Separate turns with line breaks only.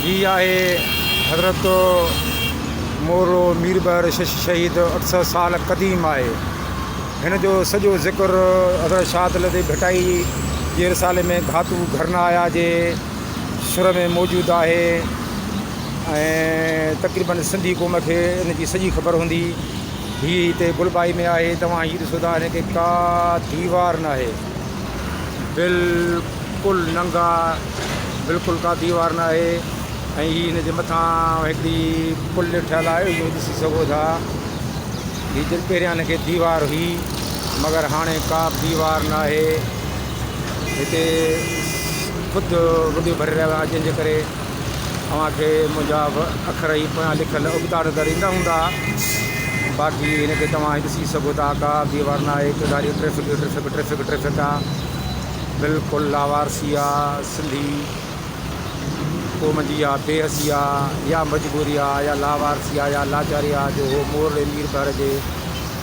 هي آهي حضرت مورو مير بحر شش شهيد اٺ سئو سال قديم آهي هن جو سڄو ذڪر حضرت شاهد لطيف ڀٽائي جي رسالي ۾ گهاتو گهرنا آيا جي سر ۾ موجود آهي ۽ تقريبن سنڌي قوم کي ان جي سڄي خبر هوندي هي هتي گلبائي ۾ آهي توهان هي ڏسو ٿا هن کي ڪا ديوار ناهي بلڪل ننگا بلڪل ڪا ديوار نه آهي ۽ هي هن جي مٿان هڪڙي پل ٺهيل آهي اهو ڏسي سگهو ٿا هي جن پهريان هن کي ديوار هئي مگر هاڻي ڪا به ديوار نه آهي هتي خود وڊيو ڀري رهيو آهيان جنهن جي ڪري اوهان کي منهنجا اکر هي پويان لکيل ابتڙ نظر ايندا هوندا باقي هن کي توهان هي ڏسي سگهو ٿا ڪا به وار نه آهي چوڌاري ٽريفڪ ئي ٽريفڪ ٽريفڪ ٽريفڪ آ بلڪل لاوارثي آ سنڌي قوم جي آ بي حسي آ يا مجبوري آ يا لاوارثي آ يا لاچاري آ جو هو مورڙي مير بحر جي